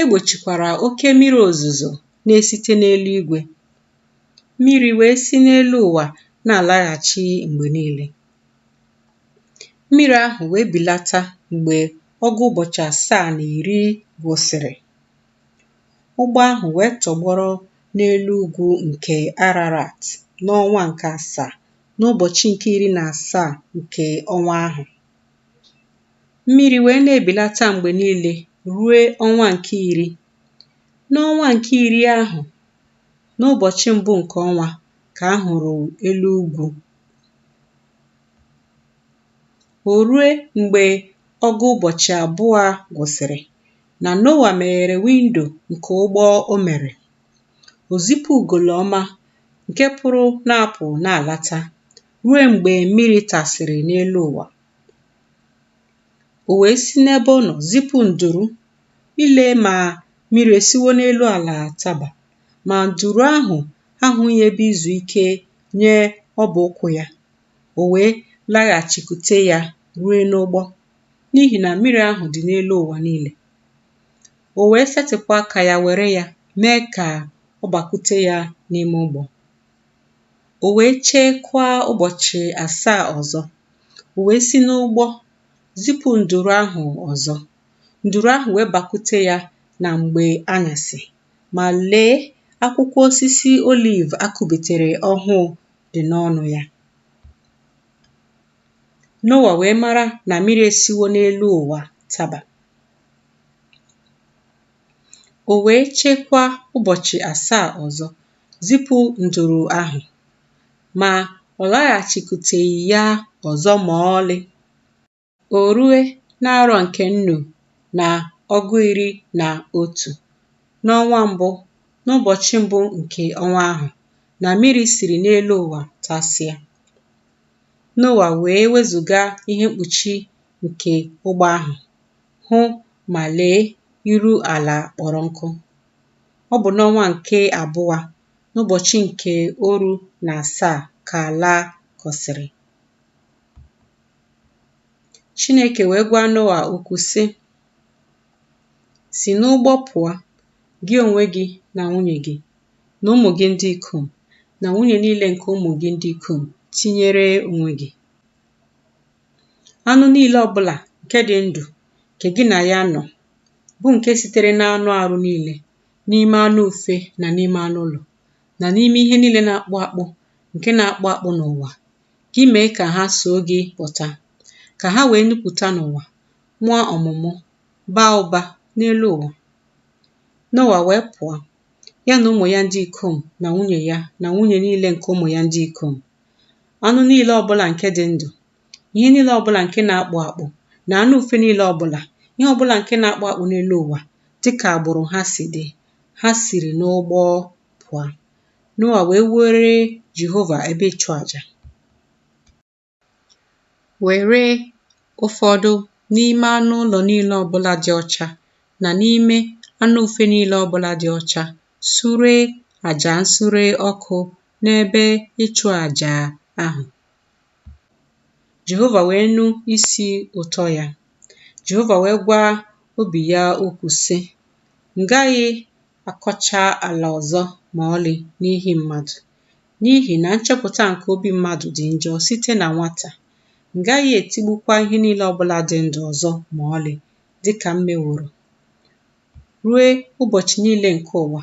E gbochikwara oke mmiri ozuzo na-esite n'eluigwe. Mmiri wee si n'elu ụwa na-alaghachi mgbe niile. Mmiri ahụ wee belata mgbe ọgụ ụbọchị asaa na iri gwụsịrị. Ụgbọ ahụ wee tọgbọrọ n'elu ugwu nke Ararat n'ọnwa nke asaa, n'ụbọchị nke iri na asaa nke ọnwa ahụ. mmiri wee na-ebelata mgbe niile ruo ọnwa nke iri. N'ọnwa nke iri ahụ, n'ụbọchị mbụ nke ọnwa ka a hụrụ elu ugwu. O rue mgbe ọgụ ụbọchị abụọ gwụsịrị na Noa meghere window nke ụgbọ o mere. O zipụ ugolo ọma nke pụrụ na-apụ na-alata. ruo mgbe mmiri tasịrị n'elu ụwa. O wee si n'ebe ọ nọ zipụ nduru ile ma mmiri esiwo n'elu ala taba, ma nduru ahụ ahụghị ebe izu ike nye ọbụ ụkwụ ya. O wee laghachikwute ya rue n'ụgbọ, n'ihi na mmiri ahụ dị n'elu ụwa niile. O wee setịpụ aka ya were ya mee ka ọ bakwute ya n'ime ụgbọ. O wee chekwaa ụbọchị asaa ọzọ. O wee si n'ụgbọ zipụ nduru ahụ ọzọ. Nduru ahụ wee bakwute ya na mgbe anyasị. Ma lee, akwụkwọ osisi oliv a kụbitere ọhụụ dị n'ọnụ ya. Noa wee mara na mmiri esiwo n'elu ụwa taba. O wee chekwaa ụbọchị asaa ọzọ. zipụ nduru ahụ, ma ọ laghachikwuteghị ya ọzọ ma ọlị. O rue n'arọ nke nnu na ọgụ iri na otu, n'ọnwa mbụ, n'ụbọchị mbụ nke ọnwa ahụ, na miri siri n'elu ụwa tasịa. Noa wee wezụga ihe mkpuchi nke ụgbọ ahụ, hụ, ma lee, iru ala kpọrọ nkụ. Ọ bụ n'ọnwa nke abụọ, n'ụbọchị nke oru na asaa ka ala kọsịrị. Chineke wee gwa Noa okwu sị, Si n'ụgbọ pụọ, gị onwe gị na nwunye gị, na ụmụ gị ndị ikom, na nwunye niile nke ụmụ gị ndị ikom, tinyere onwe gị. anụ niile ọbụlà ǹke dị ndụ̀ ǹke gị nà ya nọ̀ bụ ǹke sitere n'anụ àrụ niilė n'ime anụ ùfe nà n'ime anụ ụlọ̀ nà n'ime ihe niilė na-akpụ akpụ ǹke na-akpụ akpụ n'ụ̀wà gị mèe kà ha soo gị pụ̀ta kà ha wèe nupùta n'ụ̀wà mụa ọ̀mụ̀mụ baa ụbȧ n'elu ụ̀wà Noa wèe pụ̀ọ ya nà ụmụ̀ ya ndị ikom nà nwunyè ya nà nwunyè niilė ǹkè ụmụ̀ ya ndị ikom anụ niile ọbụla nke dị ndụ ihe niile ọbụla nke na-akpụ akpụ na anụ ufe niile ọbụla ihe ọbụla nke na-akpụ akpụ n'elu ụwa dịka agbụrụ ha si dị ha siri n'ụgbọ pụọ Noa wee wuere Jehova ebe ịchụ aja were ụfọdụ n'ime anụ ụlọ niile ọbụla dị ọcha na n'ime anụ ufe niile ọbụla dị ọcha sure aja nsure ọkụ n'ebe ịchụ aja ahụ. Jehova wee nụ isi ụtọ ya. Jehova wee gwa obi ya okwu, sị, M gaghị akọcha ala ọzọ ma ọlị n'ihi mmadụ, n'ihi na nchepụta nke obi mmadụ dị njọ site na nwata. M gaghị etigbukwa ihe niile ọ bụla dị ndụ ọzọ ma ọlị, dị ka m meworo ruo ụbọchị niile nke ụwa,